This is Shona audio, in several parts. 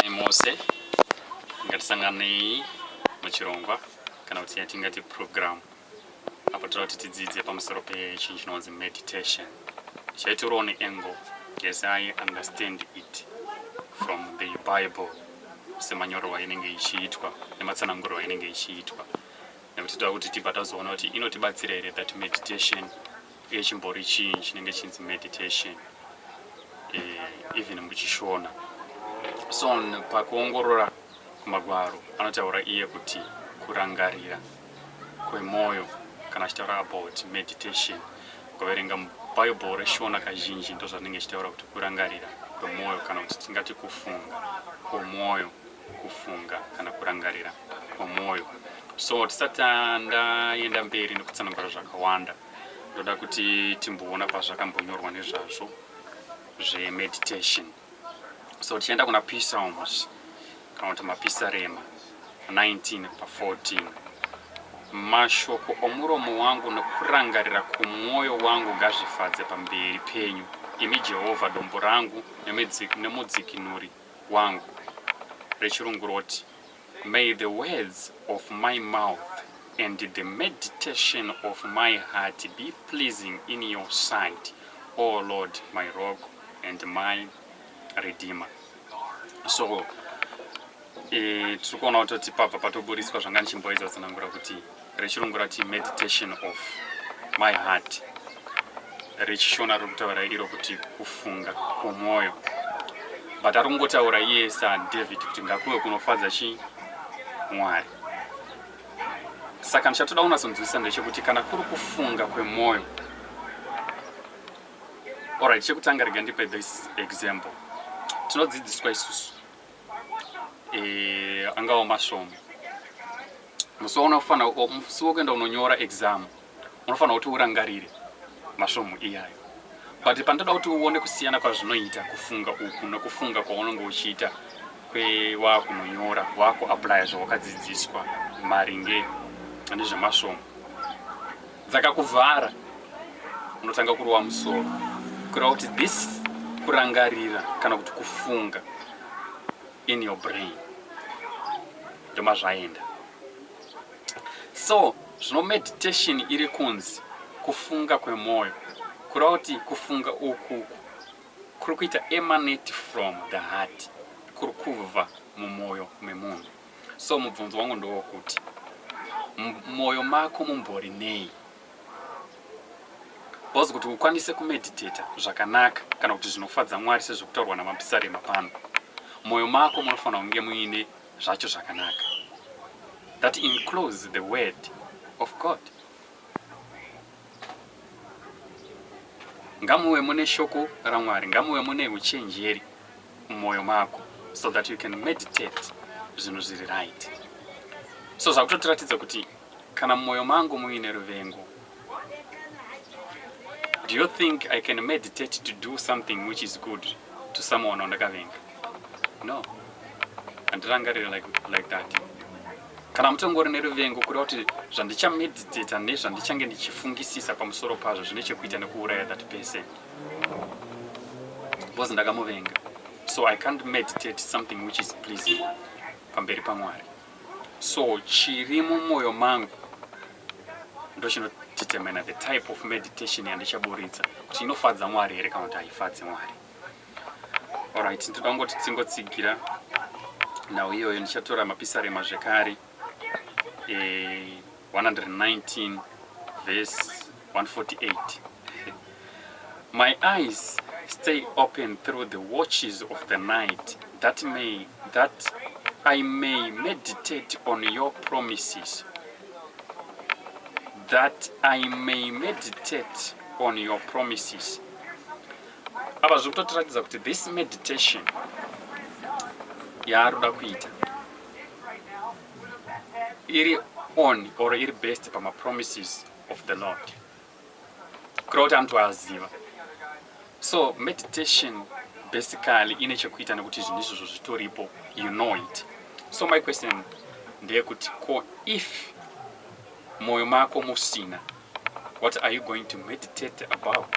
Sai mose ngatisanganei muchirongwa kana kuti yatingati program apo toda kuti tidzidze pamusoro pechinhu chinonzi meditation chaitoriwo neangle yes i understand it from the bible semanyorerwa inenge ichiitwa nematsanangurwa inenge ichiitwa nekuti toda kuti tibva tazoona kuti inotibatsira here that meditation Uye chimbori chii chinenge chinzi meditation eh, even muchishona so pakuongorora kumagwaro anotaura iye kuti kurangarira kwemwoyo kana achitaura about meditation ukaverenga bible reshona kazhinji ndozvanenge achitaura kuti kurangarira kwemwoyo kana kuti tingati kufunga kwemwoyo kufunga kana kurangarira kwomwoyo so tisati ndaenda mberi nekutsanangura zvakawanda ndoda kuti timboona pazvakambonyorwa nezvazvo zvemeditation so tichienda kuna pisalms kana kuti mapisarema 19 pa 14 mashoko omuromo wangu nokurangarira kwomwoyo wangu ngazvifadze pamberi penyu imi jehovha dombo rangu nemudzikinuri wangu rechirungu roti may the words of my mouth and the meditation of my heart be pleasing in your sight o oh lord my rock and my redeemer so e, tiri kuona kutoti pabva patoburitswa zvanga ndichimboedza kutsanangura kuti rechirungu rati meditation of my heart rechishona riri kutaura iro kuti kufunga kwomwoyo but ari kungotaura iye sadavid kuti ngakuve kunofadza chii mwari saka ndichatoda kunatsonzwisisa ndechekuti kana kuri kufunga kwemwoyo orit chekutanga rega ndipe this example tinodzidziswa isusu eh, angawo masvomo musi waunofanira musi wokuenda unonyora exam unofanira kuti urangarire masvomo iyayo but pandoda kuti uone kusiyana kwazvinoita kufunga uku nokufunga kwaunenge uchiita kwewakunonyora wakuaplya zvawakadzidziswa maringe nezvemasvomo dzakakuvhara unotanga kurova musoro kureva kuti this kurangarira kana kuti kufunga in your brain ndomazvaenda so zvino meditation iri kunzi kufunga kwemwoyo kureva kuti kufunga ukuku kuri kuita emanate from the heart kuri kubva mumwoyo memunhu so mubvunzo wangu ndowokuti mwoyo mako mumbori nei bcause kuti ukwanise kumeditata zvakanaka kana kuti zvinofadza mwari sezvekutaurwa namapisarema pano mwoyo mako munofanira kunge muine zvacho zvakanaka that includes the word of god Ngamuve mune shoko raMwari, ngamuve mune uchenjeri mumoyo mako so that you can meditate zvinhu zviri right. So zvakutotiratidza kuti kana mumoyo mangu muine ruvengo, do you think I can meditate to do something which is good to someone wandakavenga? No. Andirangarire like, like that. Kana mutongori neruvengo kureva kuti zvandichameditata nezvandichange ndichifungisisa pamusoro pazvo zvine chekuita nekuuraya that person because ndakamuvenga so i can't meditate something which is pleasing pamberi pamwari so chiri mumwoyo mangu ndochinodetermina the type of meditation yandichaburitsa kuti inofadza mwari here kana kuti haifadzi mwari Alright, ndoda kungoti tingotsigira nhau iyoyo ndichatora mapisarema zvekare eh, 119 verse 148 my eyes stay open through the watches of the night that may that i may meditate on your promises that i may meditate on your promises apa zviri kutotiratidza kuti this meditation yaari kuda kuita iri on or iri based pamapromises of the lord kureva kuti anoti waaziva so meditation basically ine chekuita nekuti zvinhu izvozvo zvitoripo you know it so my question ndeyekuti ko if mwoyo mako musina what are you going to meditate about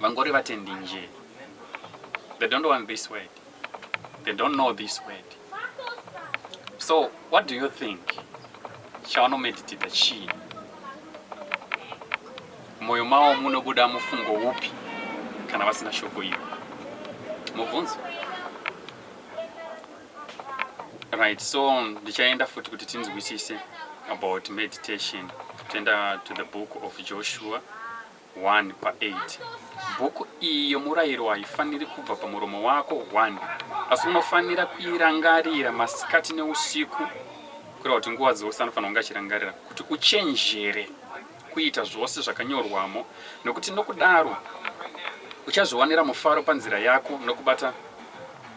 vangori vatendi nje they don't want this word they don't know this word so what do you think chavanomeditita chii mwoyo mavo munobuda mufungo upi kana vasina shoko iro mubvunzo right so ndichaenda futi kuti tinzwisise about meditation toenda to the book of joshua 1 pa 8 bhuku iyi yomurayiro haifaniri kubva pamuromo wako 1 asi unofanira kuirangarira masikati neusiku kureva kuti nguva dzose anofanira kunge achirangarira kuti uchenjere kuita zvose zvakanyorwamo nokuti nokudaro uchazviwanira mufaro panzira yako nokubata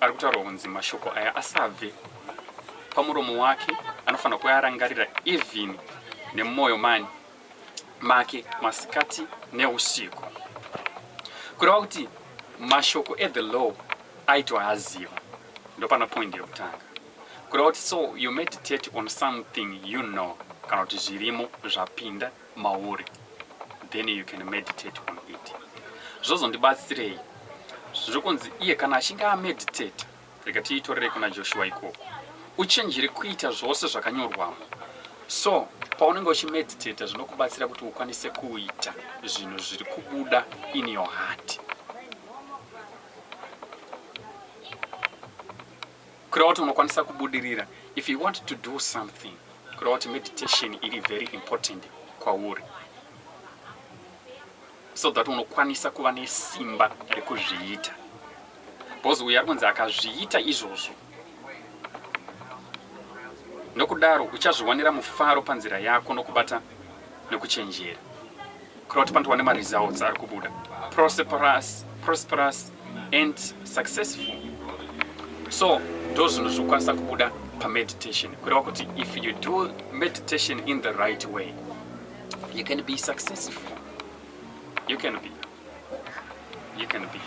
ari kutaurwa kunzi mashoko aya asabve pamuromo wake anofanira kuarangarira even nemumwoyo mani make masikati neusiku kureva kuti mashoko ethe law aitoaziva ndopana point yekutanga kureva kuti so you meditate on something you know kana kuti zvirimo zvapinda mauri then you can meditate on it zvozondibatsirei zviri kunzi iye kana achinge ameditate rega tiitorerei kuna joshua ikoko uchenjere kuita zvose zvakanyorwamo so paunenge uchimeditata zvinokubatsira kuti ukwanise kuita zvinhu zviri kubuda in your heart kureva kuti unokwanisa kubudirira if you want to do something kureva kuti meditation iri very important kwauri so that unokwanisa kuva nesimba rekuzviita because uyo ari kunzi akazviita izvozvo nokudaro uchazviwanira mufaro panzira yako nokubata nokuchenjera kuda kuti pandiwane maresults ari kubuda prosperous prosperous and successful so ndo zvinhu zvokwanisa kubuda pameditation kureva kuti if you do meditation in the right way you can be successful you can be you can be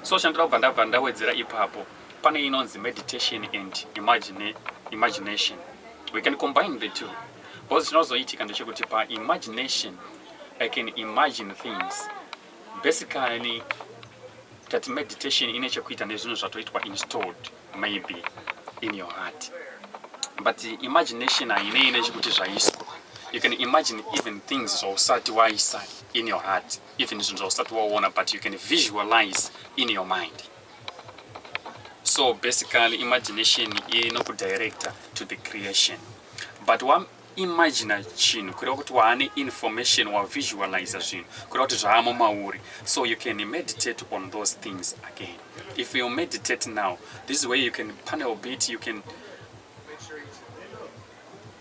so chandira kubva ndabva ndawedzera ipapo pane inonzi meditation and imagine, imagination we can combine the two Because chinozoitika ndechekuti pa imagination I can imagine things. Basically tati meditation ine chekuita nezvinhu zvatoitwa installed maybe in your heart. But imagination hainei nechekuti zvaiswa. You can imagine even things zvausati waisa in your heart, even zvinhu zvausati waona but you can visualize in your mind. So basically imagination inokudirector to the creation. but wa imagina chinhu kureva kuti waane information wa visualize zvinhu kureva kuti zvaamo mauri so you can meditate on those things again if you meditate now this is where you can panel bit you can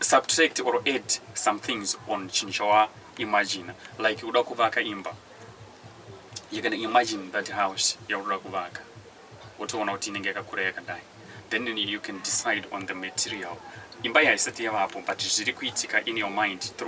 subtract or add some things on chinhu chawa imagina like uda kuvaka imba you can imagine that house yauda kuvaka wotoona kuti inenge yakakura yakadai then you can decide on the material imba yaisati yavapo but zviri kuitika in your mind through